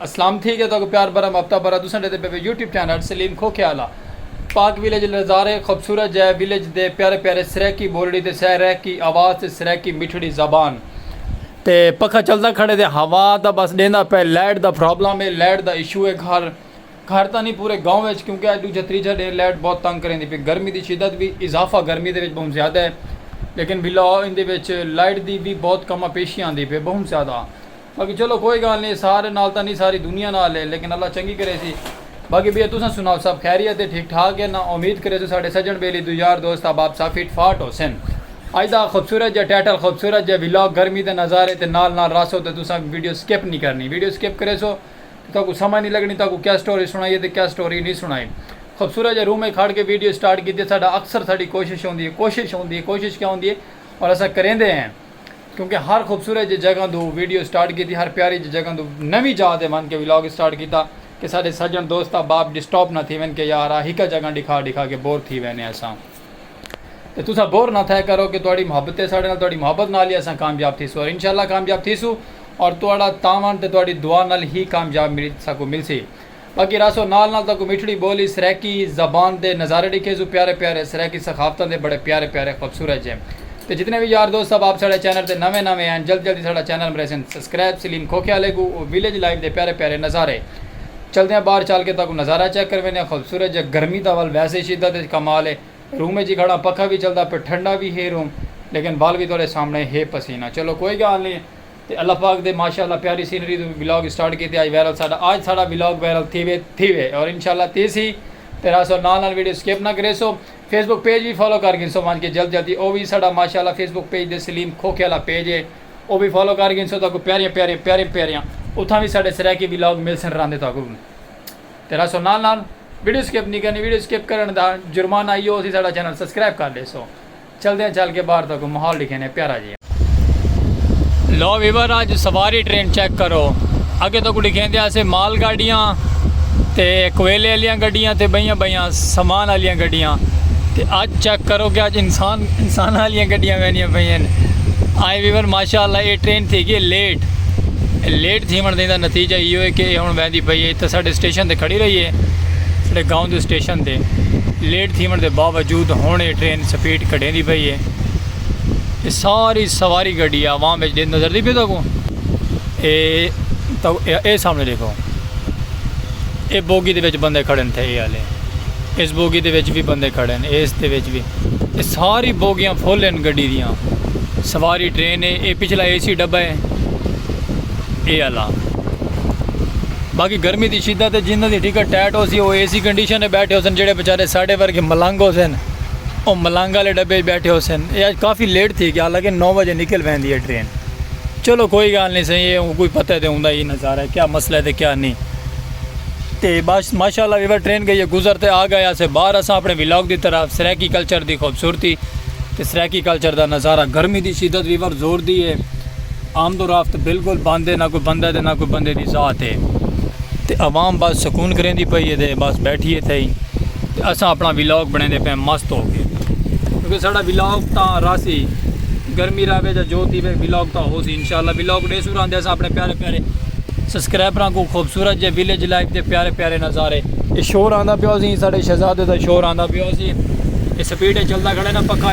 اسلام تھی گیا تہاکوں پیار برم ہفتہ برا تساں ڈیندے پے وے یوٹیوب چینل سلیم کھوکھے آلا پاک ویلیج دے نظارے خوبصورت جے ویلیج دے پیارے پیارے سرائیکی بولڑی تے سہ رائیکی آواز تے سرائیکی مٹھڑی زبان تے پکھا چلدا کھڑے تے ہوا دا بس ڈیندا پے لائٹ دا پرابلم اے لائٹ دا ایشو اے گھر گھر تاں نی پورے گاؤں وچ کیونکہ اج ڈوجھا تریجھا ڈینھ لائٹ بہت تنگ کریندی پی گرمی دی شدت وی اضافہ گرمی دے وچ بہوں زیادہ اے لیکن بلا ایندے وچ لائٹ دی وی بہت کما پیشی آندی پی بہوں زیادہ باقی چلو کوئی گالھ نی سارے نال تاں نی ساری دنیا نال ہے لیکن اللہ چنگی کریسی باقی بھیا تساں سناؤ سب خیریت ہے ٹھیک ٹھاک ہے ناں امید کریسوں ساڈے سجن بیلی دو یار دوست احباب سب فٹ فاٹ ہوسن اج دا خوبصورت جیہا ٹائٹل خوبصورت جیہا ولاگ گرمی دے نظارے تے نال نال رہسو تے تساں ویڈیو سکپ نی کرنی ویڈیو سکپ کریسو تے تہاکوں سمجھ نی لگنی تہاکوں کیا سٹوری سنائیے تے کیا سٹوری نی سنائی خوبصورت جیہے روم اچ کھڑ کے ویڈیو سٹارٹ کیتی ساڈا اکثر ساڈی کوشش ہوندی ہے کوشش ہوندی ہے کوشش کیا ہوندی ہے اور اساں کریندے ہیں۔ کیونکہ ہر خوبصورت جے جگہ توں ویڈیو سٹارٹ کیتی ہر پیاری جے جگہ توں نویں جاہ تے ونج کے ولاگ سٹارٹ کیتا کہ ساڈے سجن دوست احباب ڈسٹاپ نہ تھی ون کہ یار آ ہکا جگہ ڈکھا ڈکھا کے بور تھی وینے اساں تے تساں بور نہ تھئے کرو کہ تہاڈی محبت ہے ساڈے نال تہاڈی محبت نال ہی اساں کامیاب تھیسوں اور انشاءاللہ کامیاب تھیسوں اور تہاڈا تعاون تے تہاڈی دعا نال ہی کامیاب مل ساکوں ملسی۔ باقی رہسو نال نال تہاکوں میٹھڑی ٻولی سرائیکی زبان دے نظارے ݙیکھیسوں پیارے پیارے سرائیکی ثقافتاں دے بڑے پیارے پیارے خوبصورت جے تے جتنے وی یار دوست صاحب آپ ساݙے چینل تے نویں نویں ہن جلدی جلدی ساݙا چینل مریسن سسکرائب سلیم کھوکھے آلے کوں او ویلیج لائف دے پیارے پیارے نظارے چلدیاں باہر چل کے تہاکوں نظارہ چیک کرویندیاں خوبصورت جے گرمی دا ول ویسے شدت اچ کمال اے روم اچ ہی کھڑاں پکھا وی چلدا پئے ٹھنڈا وی ہے روم لیکن ول وی تہاݙے سامݨے ہے پسینہ چلو کوئی ڳالھ نی تے اللہ پاک دے ماشاء اللہ پیاری سینری توں ولاگ اسٹارٹ کیتے آج وائرل ساڈا آج ساڈا ولاگ وائرل تھیوے تھیوے اور انشاء اللہ تھیسی تے راسو نال نال ویڈیو سکپ نہ کریسو فیس بک پیج وی فالو کر گھنسو ونج کے جلد جلدی او وی ساڈا ماشاء اللہ فیس بک پیج دے سلیم کھوکھے والا پیج اے او وی فالو کر گھنسو تہاکوں پیاریاں پیاریاں پیاریاں پیاریاں اتھاں وی ساڈے سرائیکی ولاگ ملسن راندے تہاکوں تے راسو نال نال ویڈیو سکپ نی کرنی ویڈیو سکپ کرن دا جرمانہ ایو ہوسی ساڈا چینل سبسکرائب کر لیسو۔ چلدیاں چل کے باہر دا کوئی ماحول ڈکھینے پیارا جیہا۔ لو ویور اج سواری ٹرین چیک کرو اگے تکوں ڈکھیندے آسے مال گاڈیاں تے کویلے آلیاں گڈیاں تے بئیاں بئیاں سامان آلیاں گڈیاں تے اج چیک کرو کہ اج انسان انساناں آلیاں گڈیاں ویندیاں پئین آئے ویور ماشاء اللہ اے ٹرین تھی گئی لیٹ لیٹ تھیون دے دا نتیجہ ایہو ہے کہ اے ہن ویندی پئی ہے تے ساڈے سٹیشن تے کھڑی رہی ہے ساڈے گاؤں دے سٹیشن تے لیٹ تھیونڑ دے باوجود ہنڑ اے ٹرین سپیڈ گھٹیندی پئی اے۔ اے ساری سواری گڈی عوام وچ ڈیندی نظر دی پئی تہاکوں؟ اے تہاکوں اے سامنے ڈیکھو۔ اے بوگی دے وچ بندے کھڑے ہن تھے اے آلے۔ اس بوگی دے وچ وی بندے کھڑے ہن اس دے وچ وی۔ اے ساری بوگیاں فل ہن گڈی دیاں۔ سواری ٹرین اے۔ اے پچھلا اے سی ڈبہ اے۔ اے آلا۔ باقی گرمی دی شدت ہے جنہاں دی ٹکٹ ٹائٹ ہو سی وہ اے سی کنڈیشن ہے بیٹھے ہو سن جڑے بیچارے ساڑھے ورگے ملنگ ہو سن وہ ملنگ والے ڈبے بیٹھے ہو سن یہ آج کافی لیٹ تھی گیا حالانکہ نو بجے نکل پہ دی ہے ٹرین چلو کوئی گال نہیں صحیح ہے کوئی پتہ ہے تو ہوں یہ نظارہ ہے کیا مسئلہ ہے تو کیا نہیں تے بس ماشاء اللہ ویور ٹرین گئی ہے گزرتے آ گیا سے باہر اساں اپنے ولاگ دی طرف سریکی کلچر دی خوبصورتی تے سریکی کلچر دا نظارہ گرمی دی شدت ویور زور دی ہے آمد و رفت بالکل بند ہے نہ کوئی بندہ تے نہ کوئی بندے دی ذات ہے تے عوام بس سکون کریندی پئی ہے تے بس بیٹھی ہے تھئی تے اساں اپنا ولاگ بنیندے پئے مست ہو کے کیونکہ ساڈا ولاگ تاں راسی گرمی راوے جا جو تھی وے ولاگ تاں ہو سی انشاءاللہ ولاگ ڈے سورا اندے اساں اپنے پیارے پیارے سبسکرائبراں کو خوبصورت جے ویلیج لائف دے پیارے پیارے نظارے اے شور آندا پیو سی ساڈے شہزادے دا شور آندا پیو سی اے سپیڈ چلدا کھڑے نا پکا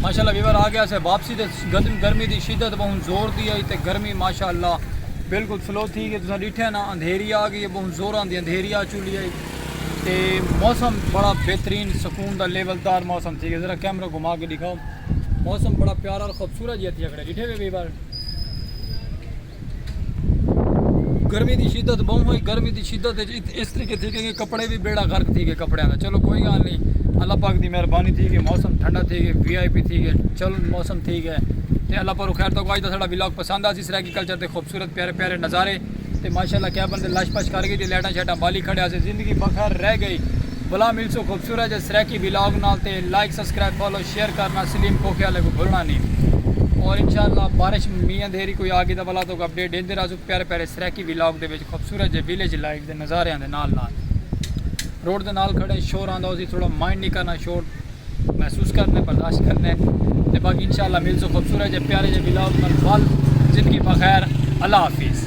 ماشاءاللہ ویور آ گیا سے واپسی تے گرمی دی شدت بہن زور دی آئی تے گرمی ماشاءاللہ بالکل فلو تھی گئی تساں ڈیٹھے نا اندھیری آ گئی بہن زوراں دی اندھیری آ چلی آئی تے موسم بڑا بہترین سکون دا لیول دار موسم تھی گیا ذرا کیمرہ گھما کے دکھاؤ موسم بڑا پیارا اور خوبصورت جی تھی کھڑے ڈیٹھے وے ویور گرمی دی شدت بہوں ہوئی گرمی دی شدت اس طریقے تھی کہ کپڑے بھی بیڑا غرق تھی گئے کپڑے دا چلو کوئی گال نہیں اللہ پاک دی مہربانی تھی گئی موسم ٹھنڈا تھی گئے وی آئی پی تھی گئے چل موسم تھی گئے تے اللہ پر خیر تو آج دا ساڑا ولاگ پسند آ سی سر ایگریکلچر دے خوبصورت پیارے پیارے نظارے تے ماشاءاللہ کیا بندے لش پش کر گئی تے لیٹاں شیٹاں بالی کھڑے آسے زندگی بخیر رہ گئی بلا مل سو خوبصورت جے سریکی ولاگ نال تے لائک سبسکرائب فالو شیئر کرنا سلیم کھوکھے آلے کوں بھلنا نی اور انشاءاللہ بارش مینہ اندھیری کوئی آگی تاں ولا توک اپڈیٹ ڈیندے رہزوں پیارے پیارے سرائیکی ویلاگ دے وچ خوبصورت جے ویلیج لائف دے نظاریاں دے نال نال روڈ دے نال کھڑے شور آندا ہوسی تھوڑا مائنڈ نی کرنا شور محسوس کرنے برداشت کرنے تے باقی انشاءاللہ ملزوں خوبصورت جے پیارے جے ویلاگ نال بال زندگی بخیر اللہ حافظ